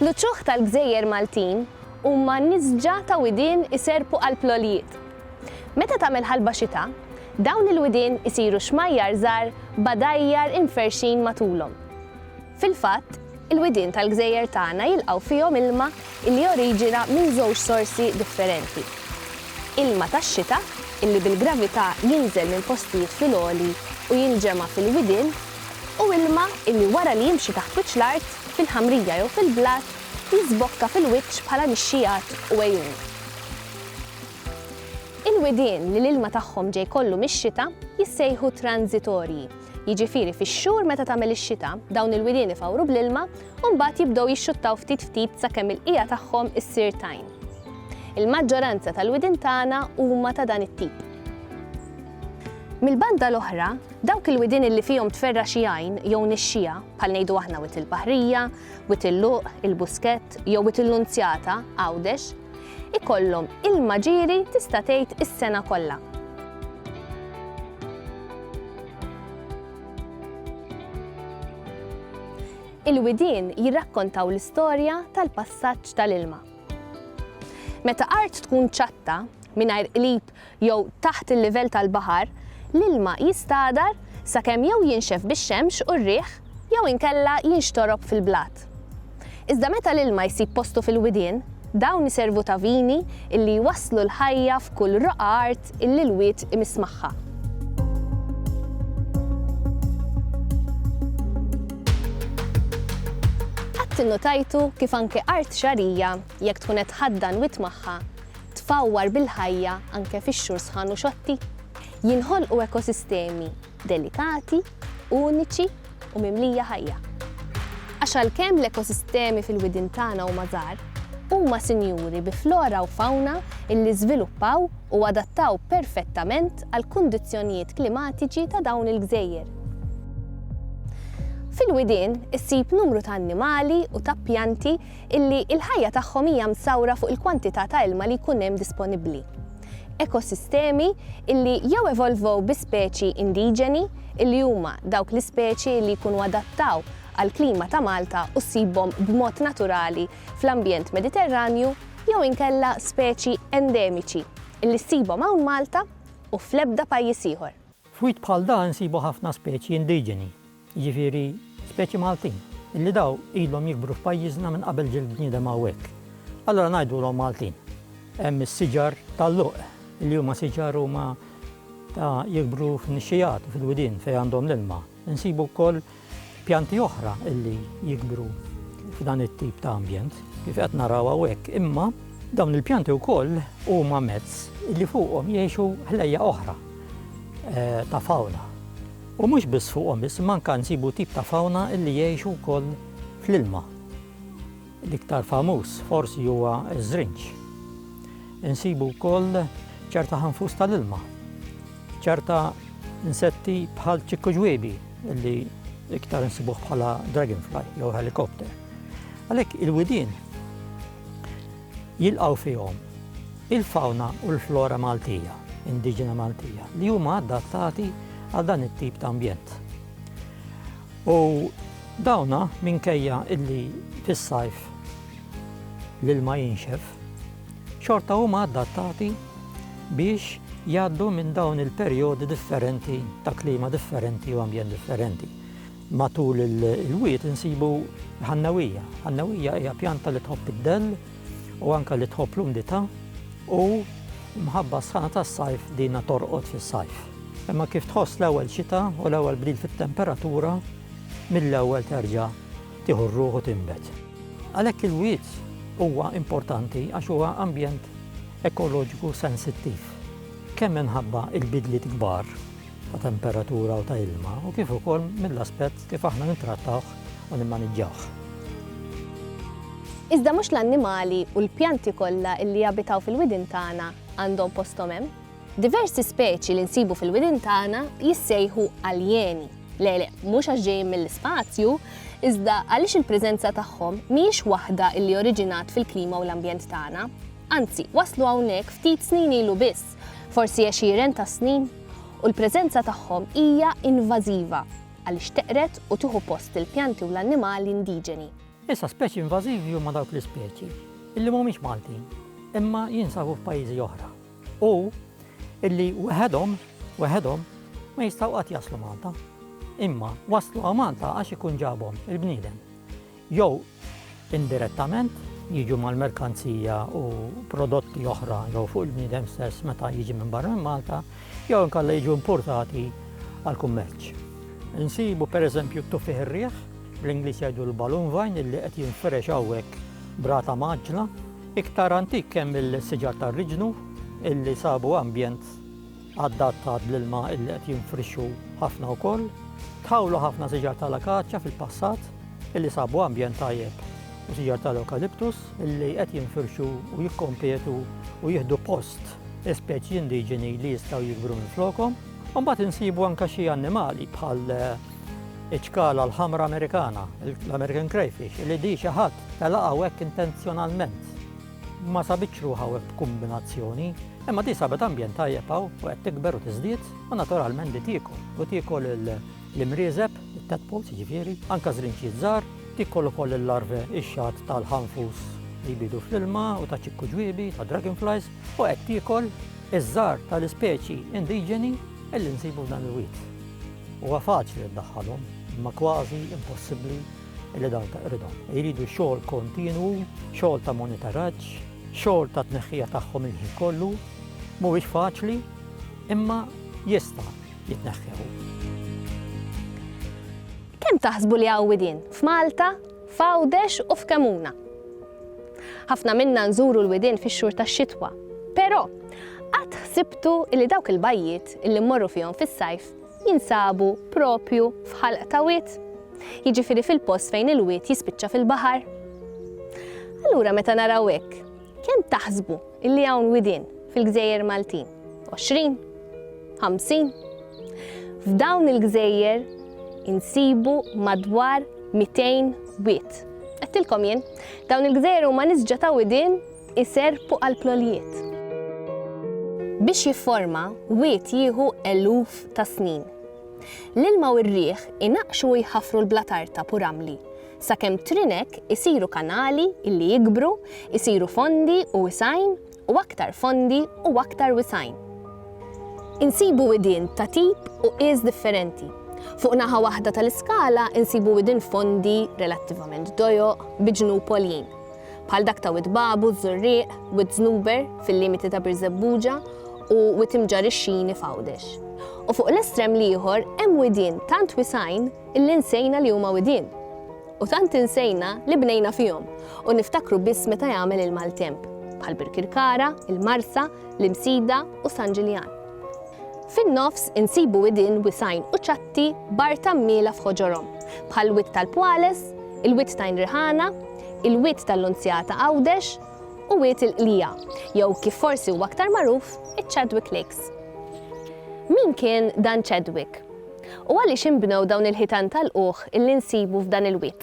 L-uċuħ tal-gżejjer Maltin huma nisġa ta' widien iserrpu qalb l-għoljiet. Meta tagħmel ħalba xita, dawn il-widien isiru xmajjar żgħar b'għadajjar imferrxin matulhom. Fil-fatt, il-widien tal-gżejjer tagħna jilqgħu fihom ilma li joriġina minn żewġ sorsi differenti, ilma tax-xita li bil-gravità jinżel minn postijiet fil-għoli u jinġema' fil-widien u ilma li wara li jimxi taħt wiċċ l-art, fil-ħamrija jew fil-blat li żbokka fil-wiċċ bħala nixxigħat u għejun. Il-widien li l-ilma tagħhom ġej kollu mix-xita jissejħu tranżitorji, jiġifieri fix-xhur meta tagħmel ix-xita, dawn il-widien ifawru bl-ilma u mbagħad jibdew jixxuttaw ftit ftit sakemm il-qiegħa tagħhom issir tajn. Il-maġġoranza tal-widien tagħna huma ta' dan it-tip. Mill-banda l-oħra, dawk il-widien li fihom tferra' xi għajn jew nixxiegħa, bħal ngħidu aħna Wied il-Baħrija, Wied il-Luq, il-Buskett jew Wied il-Nunzjata, Għawdex, ikollhom ilma ġieri tista' tgħid is-sena kollha. Il-widien jirrakkontaw l-istorja tal-passaġġ tal-ilma. Meta art tkun ċatta, mingħajr qlib jew taħt il-livell tal-baħar, l-ilma jistagħdar sakemm jew jinxef bix-xemx u r-riħ jew inkella jinxtorob fil-blat. Iżda meta l-ilma jsib postu fil-widien, dawn iservu ta' vini illi jwasslu l-ħajja f'kull roqgħa art illi l-wied imiss magħha. Qatt innutajtu kif anke art xagħrija, jekk tkun qed tħaddan wied magħha, tfawwar bil-ħajja anke fix-xhur sħan u xotti. Jinħolqu ekosistemi delikati, uniċi u mimlija ħajja. Għax għalkemm l-ekosistemi fil-widien tagħna huma żgħar, huma sinjuri bi flora u fawna illi żviluppaw u adattaw perfettament għall-kundizzjonijiet klimatiċi ta' dawn il-gżejjer. Fil-widien issib numru ta' annimali u ta' pjanti illi l-ħajja tagħhom hija msawra fuq il-kwantità ta' ilma li jkun hemm disponibbli. Ekosistemi illi jew evolvow bi speċi indiġeni, illi huma dawk l-ispeċi illi jkunu adattaw għall-klima ta' Malta u ssibhom b'mod naturali fl-ambjent Mediterranju, jew inkella speċi endemiċi illi ssibhom hawn Malta u fl-ebda pajjiż ieħor. F'wied bħal dan insibu ħafna speċi indiġeni, jiġifieri speċi Maltin, illi daw ilhom jikbru f'pajjiżna minn qabel ġie l-bniedem hawnhekk. Allura ngħidulhom Maltin. Hemm is-siġar tal-luq, illi huma siġar huma ta' jikbru fin-nixxigħat u fil-widien fejn għandhom l-ilma. Insibu wkoll Pjanti oħra li jikbru f'dan it-tip ta' ambjent, kif qed naraw hawnhekk, imma dawn il-pjanti wkoll huma mezz li fuqhom jgħixu ħlejjaq oħra ta' fawna. U mhux biss fuqhom biss, imma anke nsibu tip ta' fawna li jgħixu wkoll fl-ilma. L-iktar famuż forsi huwa ż-żrinġ. Insibu wkoll ċerta ħanfus tal-ilma, ċerta insetti bħal ċikku ġwiebi li iktar insibuh bħala dragonfly jew helikopter. Għalhekk il-widien jilqaw fihom il-fawna u l-flora Maltija, indiġena Maltija, li huma adattati għal dan it-tip ta' ambjent. U dawna minkejja illi fis-sajf l-ilma jinxef, xorta huma adattati biex jgħaddu minn dawn il-perjodi differenti ta' klima differenti u ambjent differenti. Matul il-wied insibu ħannewija. Ħannewija hija pjanta li tħobb id-dell, u anke li tħobb l-umdità u l-mħabba sħana tas-sajf dina torqod fis-sajf. Imma kif tħoss l-ewwel xita u l-ewwel bdil fit-temperatura, mill-ewwel terġa' tieħu r-ruħ u tinbet. Għalhekk il-wied huwa importanti għax huwa ambjent ekoloġiku sensittiv, kemm minħabba l-bidliet kbar ta' temperatura u ta' ilma u kif ukoll mill-aspett kif aħna nittrattawh u nimmaniġġawh. Iżda mhux l-annimali u l-pjanti kollha li jabitaw fil-widien tagħna għandhom posthom hemm. Diversi speċi li nsibu fil-widien tagħna jissejħu aljeni, le le, mhux għax ġejjin mill-ispazju, iżda għaliex il-preżenza tagħhom mhijiex waħda li oriġinat fil-klima u l-ambjent tagħna. Anzi, waslu hawnhekk ftit snin ilu biss. forsi għexieren ta' snin, u l-preżenza tagħhom hija invażiva għaliex teqred u tieħu post il-pjanti u l-annimali indiġeni. Issa speċi invażivi huma dawk l-ispeċi illi mhumiex Maltin imma jinsabu f'pajjiżi oħra u illi weħedhom weħedhom ma jistgħu qatt jaslu Malta. Imma waslu għal Malta għax ikun ġabhom il-bniedem. jew indirettament, jiġu mal-merkanzija u prodotti oħra jew fuq il-bniedem stess meta jiġi minn barra minn Malta, jew inkella jiġu importati għall-kummerċ. Insibu pereżempju t-tuffiħ ir-riħ, bl-Ingliż jgħidu l-balloon vine illi qed jinfirex hawnhekk b'rata mgħaġġla, iktar antik hemm il-siġar tar-riġnu illi sabu ambjent adattat l-ilma illi qed jinfrixxu ħafna wkoll, tħawlu ħafna siġar tal-akaċja fil-passat illi sabu ambjent tajjeb u siġar tal-ewkaliptus illi qed jinfirxu u jikkompetu u jieħdu post speċi indiġeni li jistgħu jikbru minn flokom. Mbagħad insibu anke xi annimali bħal eh, iċkala l-ħamra Amerikana, l-American crayfish, li di xi ħadd telaqgħu hekk intenzjonalment. ma sabitx ruħha hawn b'kumbinazzjoni, imma di sabet ambjent tajjeb hawn u qed tikber u tiżdied u naturalment di tiekol. U tiekol l-imrieżeb, it-tadpoles jiġifieri, anke żrinċiet żgħar, tiekol ukoll il-larvae, ix-xagħat tal-ħanfus li jbiedu fl-ilma u ta' ċikku ġwiebi, ta' dragonflies, u qed tiekol iż-żgħar tal-ispeċi indiġeni li nsibu f'dan il-wied. Huwa faċli ddaħħalhom, imma kważi impossibbli li dawn taqridhom. Iridu xogħol kontinwu, xogħol ta' monitoraġġ, xogħol ta' tneħħija tagħhom il-ħin kollu, mhuwiex faċli, imma jista' jitneħħew. Kemm taħsbu li hawn widien f'Malta, f'Għawdex u f'Kemuna? Ħafna minna nżuru l-widien fix-xhur tax-xitwa, però qatt ħsibtu li dawk il-bajjiet li mmorru fihom fis-sajf jinsabu proprju f'ħalq ta' wied, jiġifieri fil-post fejn il-wied jispiċċa fil-baħar. Allura meta naraw hekk, kemm taħsbu illi hawn widien fil-gżejjer Maltin? Għoxrin? Ħamsin? F'dawn il-gżejjer insibu madwar 200 wied. Għedtilkom jien, dawn il-gżejjer huma nisġa ta' widien Iserrpu għall-plolijiet. Biex jifforma, wied jieħu eluf ta' snin. L-ilma u r-riħ inaqqxu u jħaffru l-blat artab u ramli, sakemm trinek isiru kanali li jikbru, isiru fondi u wisgħin u aktar fondi u aktar wisgħin. Insibu widien ta' tip u qies differenti. Fuq naħa waħda tal-iskala insibu widien fondi, relattivament dojoq, bi ġnub għoljin. bħal dak ta' Wied Babu, Żurrieq, Wied Żnuber, fil-limiti ta' Birżebbuġa, u Wied Imġarr ix-Xini f'Għawdex. U fuq l-estrem l-ieħor hemm widien tant wisgħin illi nsejna li huma widien. U tant insejna li bnejna fihom u niftakru biss meta jagħmel il-maltemp, bħal Birkirkara, il-Marsa, l-Imsida u San Ġiljan. Fin-nofs insibu widien wisgħin u ċatti b'art għammiela f'ħoġorhom, bħal Wied tal-Pwales, il-Wied t'Għajn Riħana, il-Wied tal-Lunzjata Għawdex u Wied il-Qlija, jew kif forsi huwa aktar magħruf, iċ-Chadwick Lakes. Min kien dan Chadwick? U għaliex inbnew dawn il-ħitan ta' lqugħ li nsibu f'dan il-wied?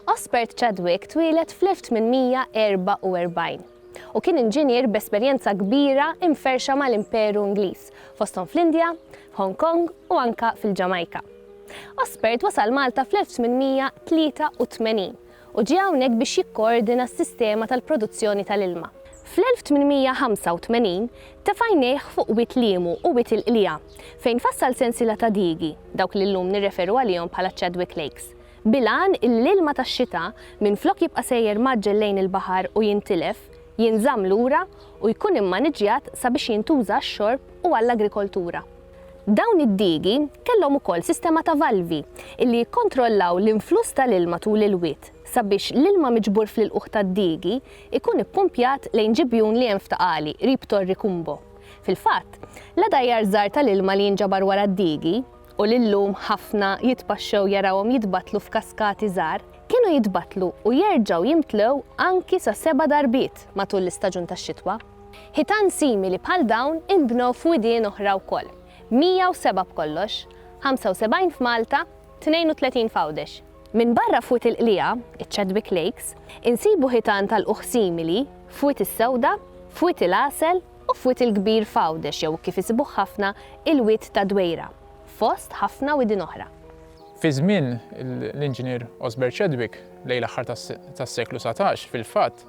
Osbert Chadwick twieled fl-1844 u kien inġinier b'esperjenza kbira imferrxa mal-Imperu Ingliż, fosthom fl-Indja, f'Hong Kong u anke fil-Ġamajka. Osbert wasal Malta fl-1883. u ġie hawnhekk biex jikkoordina s-sistema tal-produzzjoni tal-ilma. Fl-1885 tefa' għajnejh fuq Wied Liemu u Wied il-Qliegħa, fejn fassal sensiela ta' diigi, dawk li llum nirreferu għalihom bħala Chadwick Lakes, bil-għan illi l-ilma tax-xita, minflok jibqa' sejjer mgħaġġel lejn il-baħar u jintilef, jinżamm lura u jkun immaniġġjat sabiex jintuża għax-xorb u għall-agrikoltura. Dawn id-digi kellhom ukoll sistema ta' valvi li jikkontrollaw l-influss tal-ilma tul il-wied sabiex l-ilma miġbur fl-ilqugħ tad-digi jkun ippumpjat lejn ġibjun li hemm f'Ta' Qali qrib Torri Cumbo. Fil-fatt, l-għadajjar żgħar tal-ilma li jinġabar wara d-digi, u li llum ħafna jitpaxxew jarawhom jitbattlu f'kaskati żgħar, kienu jitbattlu u jerġgħu jimtlew anki sa seba' darbiet matul l-istaġun tax-xitwa. Ħitan simili bħal dawn inbnew f'widien oħra wkoll, 107 b'kollox, 75 f'Malta, 32 f'Għawdex. Minbarra f'Wied il-Qliegħa, iċ-Chadwick Lakes, insibu ħitan ta' lqugħ simili f'Wied is-Sewda, f'Wied il-Għasel u f'Wied il-Kbir f'Għawdex jew kif isibuh ħafna il-Wied ta' Dwejra, fost ħafna widien oħra. Fi żmien l-Inġinier Osbert Chadwick, lejn l-aħħar tas-seklu satax, fil-fatt,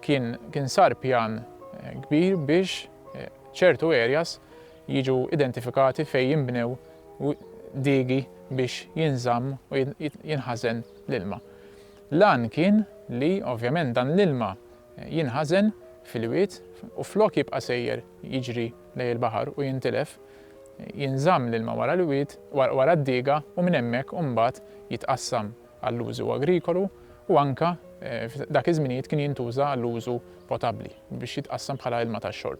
Kien kien sar pjan kbir biex ċertu areas jiġu identifikati fejn jinbnew diegi biex jinżamm u jinħażen l-ilma. L-għan kien li ovvjament dan l-ilma jinħażen fil-wied u flok jibqa' sejjer jiġri lejn il-baħar u jintilef, jinżamm l-ilma wara l-wied, wara d-diga u minn hemmhekk imbagħad jitqassam. għall-użu agrikolu u anke f'dak iż-żminijiet kien jintuża għall-użu potabbli biex jitqassam bħala ilma tax-xorb.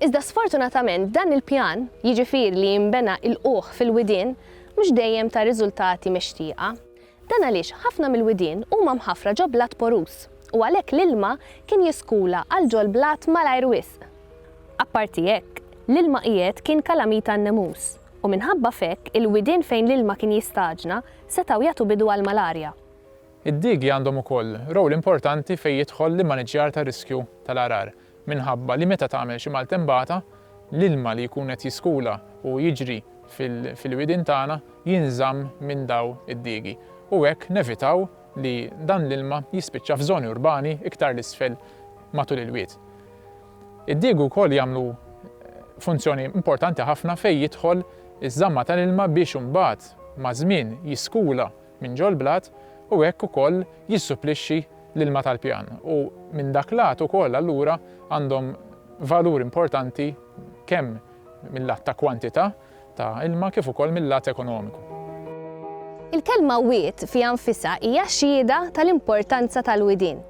Iżda sfortunatament dan il-pjan, jiġifieri li jinbena ilqugħ fil-widien, mhux dejjem ta riżultati mixtieqa. Dan għaliex ħafna mill-widien huma mħaffra ġo blat poruż u għalhekk l-ilma kien jiskula għal ġol-blat malajr wisq. Apparti hekk, l-ilma qiegħed kien kalamita għan-nemus. u minħabba f'hekk il-widien fejn l-ilma kien jistaġna setgħu jagħtu bidu għall-malarja. Id-diegi għandhom ukoll rowl importanti fejn jidħol l-immaniġġjar tar-riskju tal-għargħar minħabba li meta tagħmel xi maltembata, l-ilma li jkun qed jiskula u jiġri fil-widien tagħna jinżamm minn daw id-diegi u hekk nevitaw li dan l-ilma jispiċċa f'żoni urbani iktar 'l isfel matul il-wied. Id-digu wkoll jagħmlu funzjoni importanti ħafna fejn jidħol iż-żamma tal-ilma biex imbagħad maż-żmien jiskula minn ġol-blat u hekk ukoll jissupplixxi l-ilma tal-pjan u minn dak lat ukoll allura għandhom valur importanti kemm mil-lat ta' kwantità ta' ilma kif ukoll mil-lat ekonomiku. Il-kelma wied fiha nfisha hija xhieda tal-importanza tal-widien.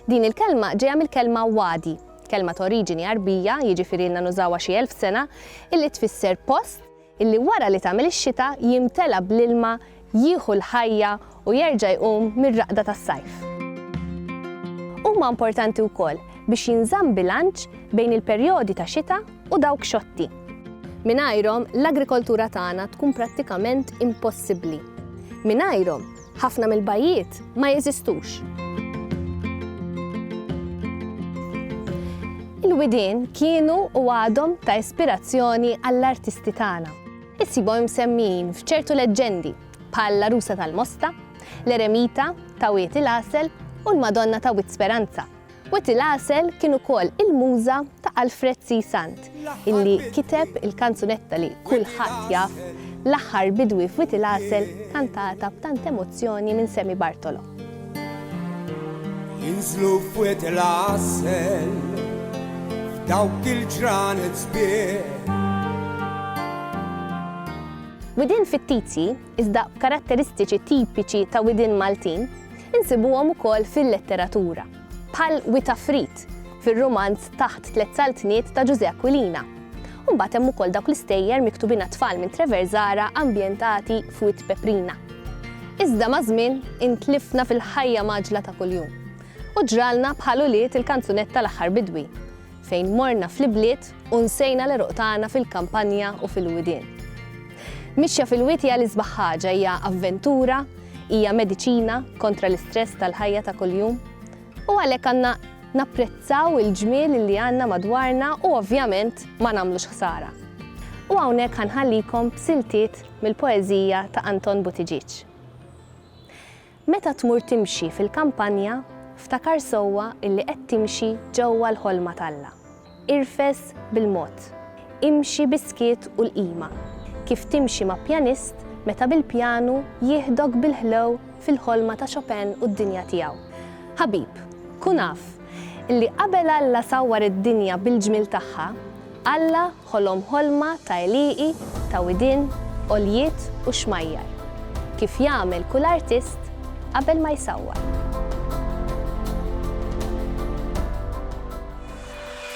Din il-kelma ġejja mill-kelma wadi, kelma ta' oriġini Għarbija, jiġifieri ilna nużawha xi elf sena, illi tfisser post illi wara li tagħmel ix-xita jimtela bl-ilma, jieħu l-ħajja u jerġa' jqum mir-raqda tas-sajf. Huma importanti wkoll biex jinżamm bilanċ bejn il-perjodi ta' xita u dawk xotti. Mingħajrhom l-agrikoltura tagħna tkun prattikament impossibbli. Mingħajrhom, Ħafna mill-bajjiet ma jeżistux. Il-widien kienu u għadhom ta' ispirazzjoni għall-artisti tagħna. Issibhom imsemmijin f'ċertu leġġendi bħal l-Għarusa tal-Mosta, l-Eremita ta' Wied il-Għasel u l-Madonna ta' Wied Speranza. Wetty Lassel kien ukoll il-muża ta' Alfred C. Sant, illi kiteb il-kanzunetta li kulħadd jaf, L-Aħħar Bidwi f'Wetty Lassel kantata b'tant emozzjoni minn Sammy Bartolo. Jinżlu f'Wetty Lassel f'dawk il-ġranet sbieħ. Widien fittizji iżda b'karatteristiċi tipiċi ta' widien Maltin, insibuhom ukoll fil-letteratura, bħal Wi ta' Frid, fir-rumanz Taħt Tliet Saltniet ta' Ġużè Aquilina. U mbagħad hemm ukoll dawk l-istejjer miktubin għat-tfal minn Treverzara ambjentati f'Wied Peprina. Iżda maż-żmien intlifna fil-ħajja mgħaġġla ta' kuljum u ġralna bħal ulied il-kanzunetta L-Aħħar Bidwi. fejn morna fl-ibliet u nsejna l-għeruq tagħna fil-kampanja u fil-widien. Mixja fil-witja l-isbaħ ħaġa hija avventura, hija mediċina kontra l-istress tal-ħajja ta' kuljum, u għalhekk għandna napprezzaw il-ġmiel li għandna madwarna u ovvjament ma nagħmlux ħsara. U hawnhekk ħanħallikom b'siltiet mill-poeżija ta' Anton Buttigieg. Meta tmur timxi fil-kampanja, ftakar sewwa illi qed timxi ġewwa l-ħolma t'Alla. Irfes bil-mod. Imxi bis-skiet u l-qima, kif timxi ma' pjanist meta bil-pjanu jieħdok bil-ħlew fil-ħolma ta' Chopin u d-dinja tiegħu. Ħabib, kun af Illi qabel Alla sawwar id-dinja bil-ġmiel tagħha, Alla ħolom ħolma ta' għelieqi, ta' widien, għoljiet u xmajjar, kif jagħmel kull artist qabel ma jsawwar.